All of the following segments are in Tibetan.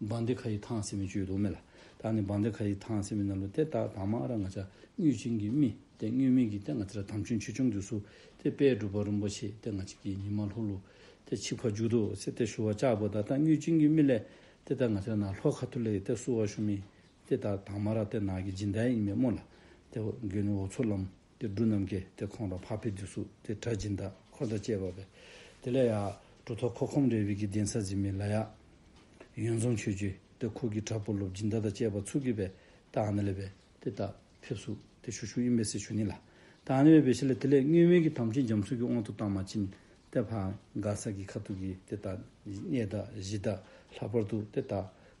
འབངས་འདི་ག་ཡི་ཐང་སེ་མི་བཅུད་དུག་མེ་ལ། ད་ནི་འབངས་འདི་ག་ཡི་ཐང་སེ་མི་རྣ་ལུ་ཏེ་ཏག་ཏག་མ་ཨ་ར་ང་ཅག་གཉུས་བྱིན་གྱིས་རྨི་ཏེ་གཉུས་རྨིས་གྱིས་ཏེ་ང་ཚེ་ར་དམ་ཆོས་འཆི་ཆུང་དུས་སུ་ཏེ་དཔལ་སྒྲུབ་པ་རིན་པོ་ཆེ་ཏེ་ང་ཅིག་གིས་ཉི་མ་ལྷུག་ལྷུག་ཏེ་འཆི་བར་འཇུག་ཏུ་སེ་ཏེ་ཞུ་བ་ལྕགས་པོ་ཏག་ཏག་གཉུས་བྱིན་གྱིས་རྨི་ལེ་ཏེ་ཏག་ང་ཚེ་ར་ན་ལྷོ་ཁ་ཐུར་ལེ་ཏེ་བསུ་བ་ཞུ་རྨིས་ཏེ་ཏག་ཏག་མ་ར་ཏེ་ནག་གི་སྦྱིན་བདག་ཡིན་མེད་སྨོས་ལ་ཏེ་འོ་སྒོས་ནི་འོ་མཚོ་ལམ། དེ་སྒྲུ་རྣམས་ཀྱིས་དེ་ཁོང་དང་འཕགས་པའི་རྒྱུ་སུ་དེ་གྲ་སྦྱིན་དང་འཁོར་དང་བཅས་པ་བས། དེ་ལས་ཡང། གྲུ་ཐོག་ཁོག་ཁོམ་རེ་བིས་ཀྱི་གདན་ས་གཟིམས་མི་ལ་ཡང། ཡོན་འཛོམས་ཆོས་བརྒྱུད་དེ་ཁོག་གི་གྲ་ཕུར་ལོ་སྦྱིན་བདག་དང་བཅས་པ་ཚུགས་ཀྱི་བས་ཏཱ་ནི་ལ་བས་དེ་ལྟ་ཕེབས་སུ་དེ་ཞུ་ཞུ་ཡིན་པས་སྲི་ཞུ་ནི་ལ། ཏཱ་ནི་བས་བེ་ཤི་ལ་དེ་ལས་སྔོན་མེད་ཀྱི་དམ་ཆོས་འཇམ་གསུང་གི་དབང་དུ་བཏང་མ་ཕྱིན། དེ་བྷང་ག་ས་ཀྱི་ཁ་ཐུག་གིས་དེ་ལྟ། གནས་བདག་གཞི་བདག་ལྷག་པར་དུ་དེ་ལྟ།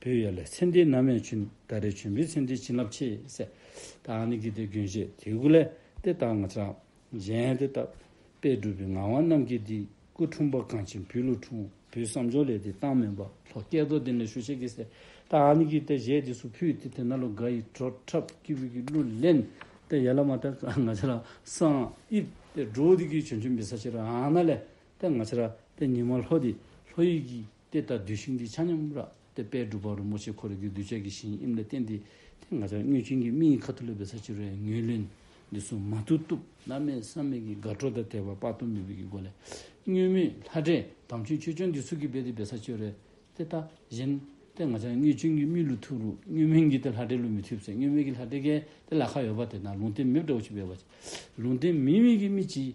བོད་ཡུལ་ལ་ཚེ་འདི་ན་མེད་ཆུ་ཟླ་རེ་བྱོན་བོད་ཚེ་འདི་བྱིན་རླབས་ཆེ་སེ། ད་ནི་གི་དེ་དགོན་བཞེས་དེ་སྐུ་ལས་དེ་ལྟར་ང་ཅག་གཞན་དེ་ལྟ་བས་སྒྲུབ་པའི་ངག་དབང་རྣམས་ཀྱིས་འདི་སྐུ་འཁྲུངས་པ་གང་ཕྱིན་བུས་ལུགས་འཁྲུངས་བུའི་བསམ་སྦྱོར་ལས་དེ་བཏང་མིན་པ་ལྷོ་སྐལ་རྡོར་དེ་ནས་ཞུ་བྱས་ཀི་སེ། ད་ནི་གི་དེ་བཞེས་དེ་སུ་ཕུད་དེ་དེ་ན་ལོ་འགའ་ཡི་བྲོ་འཁྲབ་ཀི་བུ་གི་གླུ་ལེན་དེ་ཡལ་མ་ཐག་གི་ང་ཅག་ལ་སང་ཨིབ་དེ་འགྲོ་དེ་གི་བྱོན་ཆུ་མི་ས་ཆེ་རང་ན་ལས་དེ་ང་ཅག་དེ་ཉི་མ་ལྷོ་དེ་ལྷོ་ཡི་གི། དེ་ལྟར་བསྡུས་ཤིང་འདིའི་ཆ་མཉམ་རགས་ཏེ་དཔལ་སྒྲུབ་པ་རིན་པོ་ཆེ་འཁོར་རིགས་ཀྱི་གདུལ་བྱ་གྱི་ཞིང་དབྱིངས་ལ་བསྟན་ཏེ། དེ་ང་ཅག་མྱོས་བྱིང་གི་མིག་ཡི་ཁ་ཐུ་ལུ་བའི་ས་ཕྱི་རོལ་ཡང་ངེས་ལེན། འདི་སོ་མ་ཐུ་གཏུབ། བླ་མེད་བསམ་མེད་ཀྱི་དགའ་སྤྲོ་དང་བྲལ་བ་དཔག་ཏུ་མེད་པའི་ཀྱི་སྒོ་ནས། མྱོས་མེད་ལྷ་འདྲེ་དམ་ཆོས་ཆོས་སྐྱོང་འདི་ཚུལ་གྱིས་སྦས་ཏེ་བའི་ས་ཕྱི་རོལ། དེ་ལྟ་བཞིན། དེ་ང་ཅག་མྱོས་བྱིང་གི་མིག་ལུས་ཐུ་རུ་མྱོས་མེད་འགྱིས་ཏེ་ལྷ་འདྲེ་ལུས་མི་ཐུབ་ཚེ་མྱོས་མེད་ཀྱི་ལྷ་འདྲེ་གལ་ཏེ་ལ་ཁ་ཡོད་པ་དེ་ན་ལུང་བསྟན་མེད་པ་འདྲ་བོ་ཞིག་སྦས་པ། ལུང་བསྟན་མི་དམིགས་ཀྱི་མིག་གིས།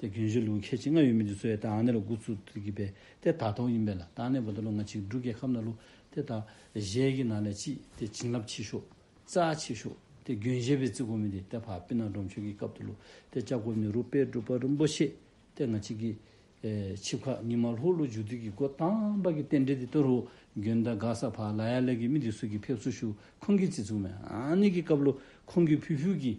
དེ་རྒྱུན་བཞུད་ལུགས་ཁྱད་ཅིག་ང་ཡོད་མི་འདུག་ཚོས་དང་ནེ་ལོ་དགུ་ཚུགས་འདུག་གི་པས་དེ་དག་ཐོག་ཡིན་པས་ལ་དང་ནེ་བོ་ད་ལོ་ང་ཆིག་འབྲུག་རྒྱལ་ཁབ་ན་ལུགས་དེ་དག་གཞས་ཀྱི་ནང་ལས་ཅི་དེ་བྱིན་རླབས་ཆེ་ཤོས་རྩ་ཆེ་ཤོས་དེ་རྒྱུན་གཞས་པའི་རྩི་གོ་མི་དེ་དེ་བྷ་པི་ན་འབྲོམ་ཆོས་ཀྱི་སྐབས་དུ་ལུགས་དེ་ལྕགས་སྒོ་ནི་རུ་པའི་སྒྲུབ་པ་རིན་པོ་ཆེ་དེ་ང་ཆིག་གི་ཆིབས་ཁ་ཉི་མ་ལྷོག་ལུགས་འཇུག་དུས་ཀྱི་སྒོ་དང་པ་གི་རྟེན་འབྲེལ་དེ་ཏོ་རུ་རྒྱུན་ད་ག་ས་བྷ་ལ་ཡ་ལ་གི་མི་དེ་སུ་གི་ཕེབས་བསུ་ཞུ་ཁོང་གི་རྩི་ཚུགས་མ་ནེ་གི་སྐབས་ལུགས་ཁོང་གི་བུ་ཕུལ་གྱི་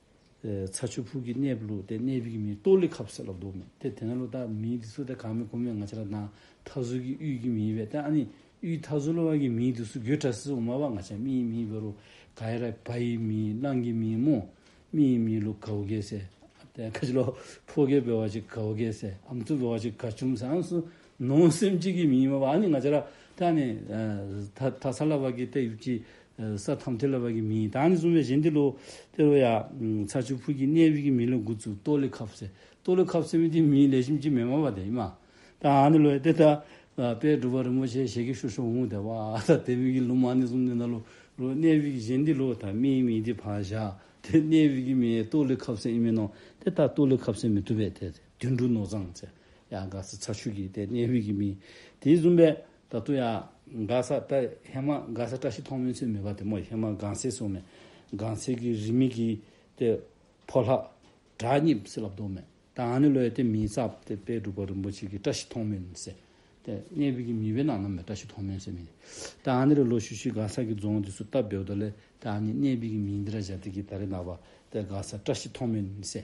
ཚྭ་ཆུ་ཕུག་གི་གནས་བུ་ལུགས་ཏེ་གནས་བུ་གི་མིང་ཏོ་ལི་ཁབ་ཟེར་ལ་འདུག་མོད་དེ་དེ་ན་ལོ་ད་མིང་འདི་ཚོ་དེ་གང་མིན་གོ་མེད་ང་ཅི་ལ་དང་ཐ་ཟུར་གི་དབུས་ཀྱི་མིང་བས་ཏེ་ཨ་ནི་དབུས་མཐའ་ཟུར་ལ་བ་གི་མིང་འདི་ཚོ་གུས་དྲ་སི་འོ་མ་བ་ང་ཅག་རྨི་ཡི་མིང་བེ་རུ་ག་ཡེ་ར་བ་ཡི་མིང་གླང་གི་མིང་མོ་རྨི་ཡི་མིང་ལུག་གའོ་གའི་སེ་ཨ་ཏེ་ཁ་ཅི་ལོ་ཕོ་གའི་བེ་བ་ཅི་གའོ་གའི་སེ་ཨམ་ཚུ་བེ་བ་ཅི་ག་ཆུམ་སེ་ཨམ་སུ་ནང་སེམས་གཅིག་གིས་མི་ཡིན་པ་ནི་ང་ཅི་ར་ཏཱ་ནི། ད་ས་ལ་བ་གི་ཏའི་ཡུག་ཅི། ས་ཐམ་ཐི་ལ་བ་གི་མི་ཡིན་ད་ནི་གསུངས་པའི་གཞན་དི་ལོ། དེ་ལོ་ཡ། ཚ་ཆུ་ཕུག་གི་གནས་དབུས་ཀྱི་མི་ལོ་དགུ་ཚུགས་ཏོ་ལི་ཁབ་སེ། ཏོ་ལི་ཁབ་སེ་མི་དེ་མིའི་ལས་ཞིམ་གྱིས་མེ་མ་བ་དེ་ཡིན་མ། ད་ནི་ལོ་ཡ་དེ་ད། པའི་སྒྲུབ་པ་རིན་པོ་ཆེ་ཞེ་གི་ཤུ་ཤོ་འུང་དེ་བ་ད་དེ་དབུས་ཀྱི་ལུ་མ་ནི་གསུམ་དེ་ད་ལོ། ལོ་གནས་དབུས་ཀྱི་གཞན་དི་ལོ་ད་མིའི་མི་དེ་བ་བཞག་དེ་གནས་དབུས་ཀྱི་མི་ཡའི་ཏོ་ལི་ཁབ་སེ་ཡིན་མི་ནོ་དེ་ད་ཏོ་ལི་ཁབ་སེ་མི་ཐུབ་པའི་དེ་དེ། དུད་འགྲོ་ནོར་བཟང་བཅས་ཡང་དགའ་ས་ཚ་ཤུལ་གྱི་དེ་གནས་དབུས་ཀྱི་མི། དེའི་བཙུན་པས་ད་དུང་ཡང་དགའ་ས་བཀྲ་ཧེ་མ་དགའ་ས་བཀྲ་ཤིས་མཐོང་མོད་ཚུལ་མེད་པ་དེ་མོ་ཧེ་མ་དགའ་སེ་སོང་ནས་དགའ་སེ་གི་རིས་མེད་གི་དེ་ཕོ་ལྷ། གྲགས་སྙེམས་བསྲེ་ལབ་བདོ་མེད་ད་ང་ནི་ལོ་ཡི་དེ་མིའི་རྩ་བ་དེ་དཔལ་སྒྲུབ་པ་རིན་པོ་ཆེ་གི་བཀྲ་ཤིས་མཐོང་མོད་ནི་སེ། དེ་གནས་དབུས་ཀྱི་མི་བས་ན་ནམ་ཡང་བཀྲ་ཤིས་མཐོང་མོད་སེ་མིན། ད་ང་ནི་རི་ལོ་ཤུ་ཤུའི་དགའ་ས་གི་རྫོང་དེ་སུ་བཏབ་བདེ་བདོ་ལས་དེ་ཨ་ནི་གནས་དབུས་ཀྱི་མིའི་འདི་ར་བཞག་དེ་གི་ད་རི་ནག་པ་དེ་དགའ་ས་བཀྲ་ཤིས་མཐོང་མོད་ནི་སེ།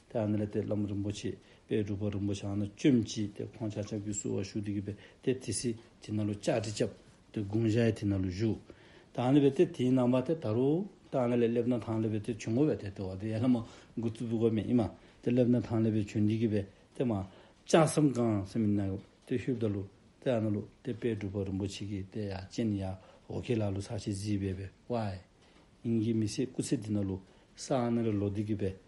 དེ་ཨ་ནེ་ལ་དེ་བླ་མ་རིན་པོ་ཆེས་དཔལ་སྒྲུབ་པ་རིན་པོ་ཆེ་ཨ་ནེ་བཅོམ་གཅིག་དེ་ཁོང་ཅག་ཅག་བུ་བསུ་བར་ཞུགས་འདི་གུས་པས་དེ་དེ་སྲིད་དེ་ན་ལོ་ལྕགས་གྲི་བཅབས་དེ་དགུང་གཞལ་ཡས་དེ་ན་ལོ་བཞུགས། དེ་ཨ་ནེ་བས་དེ་དེའི་ནང་པ་དེ་ད་རུ་དེ་ཨ་ནེ་ལས་སླེབ་ན་ཐང་ལེ་བས་དེ་བྱོན་ངོ་བས་དེ་དེ་བ་དེ་ཡས་ལ་མ་མགུ་ཙི་བུ་ག་མེད་ཨི་མ་དེ་སླེབ་ན་ཐང་ལེ་བས་བྱོན་འདི་གུས་པས་དེ་མ་ཅག་སམ་གང་སེམས་ཨི་ན་གུས་པས་དེ་ཤུ་བདའ་ལུ་དེ་ཨ་ནེ་ལུ་དེ་དཔལ་སྒྲུབ་པ་རིན་པོ་ཆེ་གིས་དེ་ཡ་ཅན་ཡ་ཧོ་ཁེ་ལ་ལུ་ས་ཤེ་ཟིས་བས་བས་ཝའི། ཡིན་གྱི་མི་སེ་སྐུ་ཚེ་འདི་ན་ལུ་ས་ཨ་ནེ་ལ་ལོ་འདི་གུས་པས་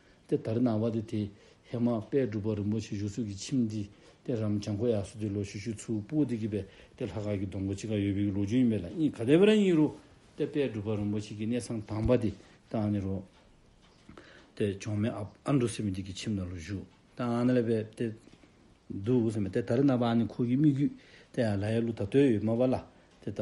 དེ་དར་ནང་བ་དེ་དེ་ཧེ་མ་པད་སྒྲུབ་པ་རིན་པོ་ཆེ་བཞུགས་ཚུལ་གྱི་ཁྱིམ་འདི་དེ་རམ་བྱང་ཁོ་ཡག་སུ་དེ་ལོ་ཞུ་ཞུ་ཚུལ་སྤུ་དེ་གི་པད་དེ་ལྷ་ཁ་གི་སྡོང་པོ་ཅི་ག་ཡོད་པའི་གི་ལོ་རྒྱུན་ཡིན་པས་ལ་གཉིས་ག་དེ་བ་ར་གཉིས་རུ་དེ་པད་སྒྲུབ་པ་རིན་པོ་ཆེ་གི་གནས་ཚང་དང་བ་དེ་དང་ནི་རུ། དེ་ཆོང་མེ་ཨ་ཨ་འདུ་སེ་མི་དེ་གི་ཁྱིམ་དང་ལོ་བཞུགས་དང་ཨ་ན་ལ་བད་དེ་འདུ་སེ་མི་དེ་དར་ནང་བ་ཨ་ནི་ཁོ་གི་སྨིག་རྒྱུད་དེ་ཨ་ལ་ཡ་ལུ་ད་ཏོའི་ཡོད་མ་བ་ལ་དེ་ད་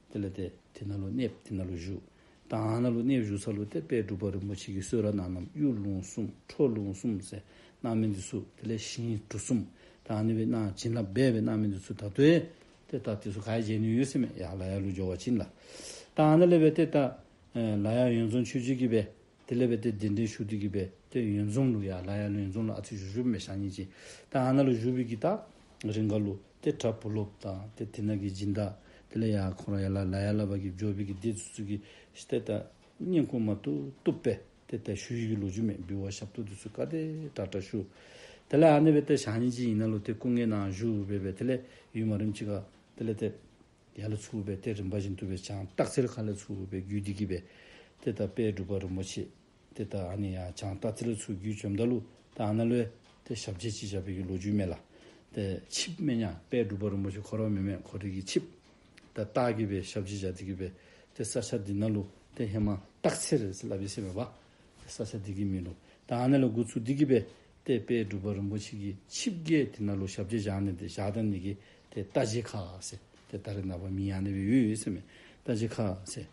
དེ་ལ་དེ་དེ་ན་ལོ་གནས་དེ་ན་ལོ་བཞུགས། དང་ན་ལོ་གནས་བཞུགས་ཚར་ལོ་དེ་དཔལ་སྒྲུབ་པ་རིན་པོ་ཆེ་གི་གསོལ་ར་ནང་རྣམས་གཡུ་ལུང་གསུམ་ཁྲོ་ལུང་གསུམ་ཟས་སྣང་མི་འདི་སུ་དེ་ལས་ཤིང་གྲུ་གསུམ་དང་ནི་བའི་སྣང་བྱིན་རླབས་སྦས་པའི་སྣང་མི་འདི་སུ་ད་དོད་དེ་ལྟ་དེ་སུ་ག་ཡ་བྱེད་ནུས་ཡོད་སེམས་ཡ་ལ་ཡ་ལུ་སྦྱོར་བ་བྱིན་ལ། དང་ན་ལེ་བའི་དེ་ད་ལ་ཡ་ཡོན་འཛོམས་ཆོས་སྤྱོད་ཀྱི་བས་དེ་ལེ་བའི་དེ་དེ་འདྲེན་ཞུགས་དུས་ཀྱི་བས་དེ་ཡོན་འཛོམས་ལུ་ཡ་ལ་ཡ་ལུ་ཡོན་འཛོམས་ལ་ཨ་ཚིག་བཞུགས་ཞུགས་པའི་ཞག་གཉིས་ཀྱི་དང་ན་ལོ་བཞུགས་པའི་ཀྱི་ད་རིང་ག་ལུ། དེ་ཁྲ་བུ་ལོབ་དང་དེ་དེ་ནག་གི་སྦྱིན་བདག་དེ་ལ་ཡང་ཁོང་རང་ཡ་ལ་ལ་ཡ་ལ་བ་གི་ཇོ་བི་གི་སྡེ་ཚུ་ཚུ་གི་ཤི་ཏེ་ཏ་སྙན་ཁུང་མ་ཏུ་ཏུ་པེ་ཏེ་ཏ་ཤུ་ཡི་གི་ལོ་རྒྱུ་མེད་འབུལ་བ་ཞབས་ཏོ་དུ་སུ་ཀ་ཏེ་ཏ་ཏྲ་ཤུ་དེ་ལ་ཨ་ནེ་བེ་ཏ་ཞང་ཉིན་ཅིག་ཡིན་ན་ལོ་དེ་སྐུ་ངལ་ནའང་བཞུགས་འོས་པས་དེ་ལས་ཡུལ་མ་རིམ་ཅི་ག་དེ་ལ་ཏེ་ཡ་ལ་ཚུགས་འོས་པས་ཏེ་རིམ་པ་བཞིན་དུ་བས་ཅང་སྟག་ཚེར་ཁ་ལ་ཚུགས་འོས་པའི་རྒྱུད་འདི་གི་བས་ཏེ་ཏ་པས་སྒྲུབ་པ་རིན་པོ་ཆེ། དེ་ལྟར་ཨ་ནི་ཡ་བྱང་སྟ་ཙི་ལོའི་ཚུལ་བརྒྱུད་བཅོམ་ལྡ་ལུ་ཏི་ཨ་ན་ལོའི་དེ་ཞབས་རྗེས་སྤྱི་བྱ་བེད་ཀྱི་ལོ་རྒྱུས་མེད་ལ། དེ་ཆིབས་སྨད་ཉག་དཔལ་སྒྲུབ་པ་རིན་པོ་ཆེ་འཁོར་བ་མི་མེད་འཁོར་རིགས་ཀྱི་ཆིབས། དེ་སྟག་གི་བེ་ཞབས་རྗེས་བྱ་དེ་གི་བེ། དེ་ས་ཆ་འདི་ན་ལུ་ཏི་ཧེ་མ་སྟག་ཚེ་རི་སི་ལ་བི་སེ་མེད་པ། དེ་ས་ཆ་འདི་གི་མི་ལུ་ཏི་ཨ་ན་ལོའི་དགུ་ཚུགས་འདི་གི་བེ། དེ་དཔལ་སྒྲུབ་པ་རིན་པོ་ཆེ་གི་ཆིབས་བརྒྱད་དེ་ན་ལུ་ཞབས་རྗེས་བྱང་ནི་དེ་ཞག་དང་ནི་གི་དེ་སྟ་ཇི་ཁ་སེ། དེ་སྟ་རི་ནག་པ་མི་ཡང་ནི་བི་ཡུ་ཡུ་སེ་མེད་སྟ་ཇི་ཁ་སེ།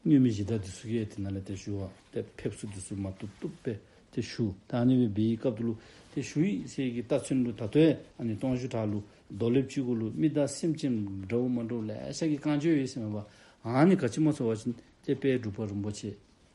སྙུན་མི་བཞི་དག་དེ་སུ་ཀེ་ཏི་ན་ལ་དེར་ཞུ་བ་དེ་ཕེབས་སུ་དེ་སུ་མ་ཏུ་ཏུ་པེ་དེ་ཞུ་ད་ཨ་ནི་བི་བི་ཡི་སྐབས་དུ་ལུ་དེ་ཞུ་ཡིག་སེ་ཀི་ཏཱ་ཚུན་ལུ་ད་ཏོའི་ཨ་ནི་སྟོང་བཞུ་དྲག་ལུ་རྡོ་ལེབ་བཅུ་དགུ་ལུ་མི་ད་སེམས་ཅན་འདྲ་བོ་མ་འདྲོ་ལས་ཤ་ཀི་རྐང་བཅོ་ཡོད་སེ་མེ་བ་ཨ་ནི་ག་ཅི་མ་ཚོ་བ་ཅི་དེ་པའི་སྒྲུབ་པ་རིན་པོ་ཆེ་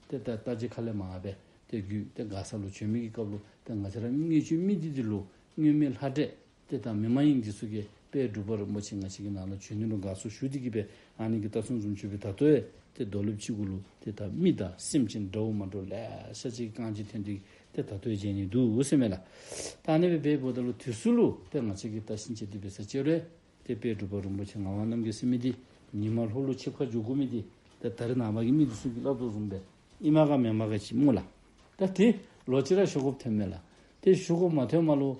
དེ་ད་ཏཱ་ཅི་ཁ་ལེ་མ་ཨ་པེ་དེ་རྒྱུད་དེ་དགའ་ས་ལུ་བྱོན་མི་ཀི་སྐབས་ལུ་དེ་ང་ཚེ་ར་མི་ངེས་ཆུ་མི་དི་དི་ལུ་སྙུན་མི་ལྷ་འདྲེས་དེ་དང་མི་མ་ཡིན་གྱི་སུ་ཀེ་པའི་སྒྲུབ་པ་རིན་པོ་ཆེ་ང་ཞིག་གི་ནང་ལ་བྱོན་ནུས་ལོ་འགའ་སོ་ཞུ་དེ་གི་པའི་ཨ་ནེ་གི་རྟ་སུན་འཛུམ་ཆུ་བོའི་དར་ཐོ་ཨེ་དེ་རྡོ་ལུབ་ཅིག་གུ་ལུ་དེ་དག་རྨི་ད་སེམས་ཅན་དགྲ་བོ་མ་འགྲོ་ལས་ཤ་ཅིག་རྐང་གཅིག་ཐོན་དེ་གི་དེ་དར་ཐོའི་རྗེས་ནི་འདུག་སེ་མེད་ལ། ད་ཨ་ནེ་བའི་པའི་བུ་ད་ལོ་དུས་སུ་ལུ་པའི་ང་ཞིག་གི་རྟ་བཞིན་བྱེད་དུས་པའི་ས་སྐྱེ་རོའི་དེ་དཔའི་སྒྲུབ་པ་རིན་པོ་ཆེ་ང་བ་རྣམས་གི་སེམས་མི་དེ་ཉི་མ་ལྷོག་ལུ་ཆེ་ཁ་ཇོ་གུ་མི་དེ་དེ་དར་ནང་བ་གི་མི་དེ་སུ་ཀེ་བླ་རྡོ་བཟུང་པའི་ཨི་མ་ག་མེ་མ་ག་ཅིག་རྨུ་ལ། ད་དེ་ལོ་ཅི་ར་ཞོ་གོབ་ཐོན་མེད་ལ་དེ་ཞོ་གོབ་མ་ཐོན་མ་ལོ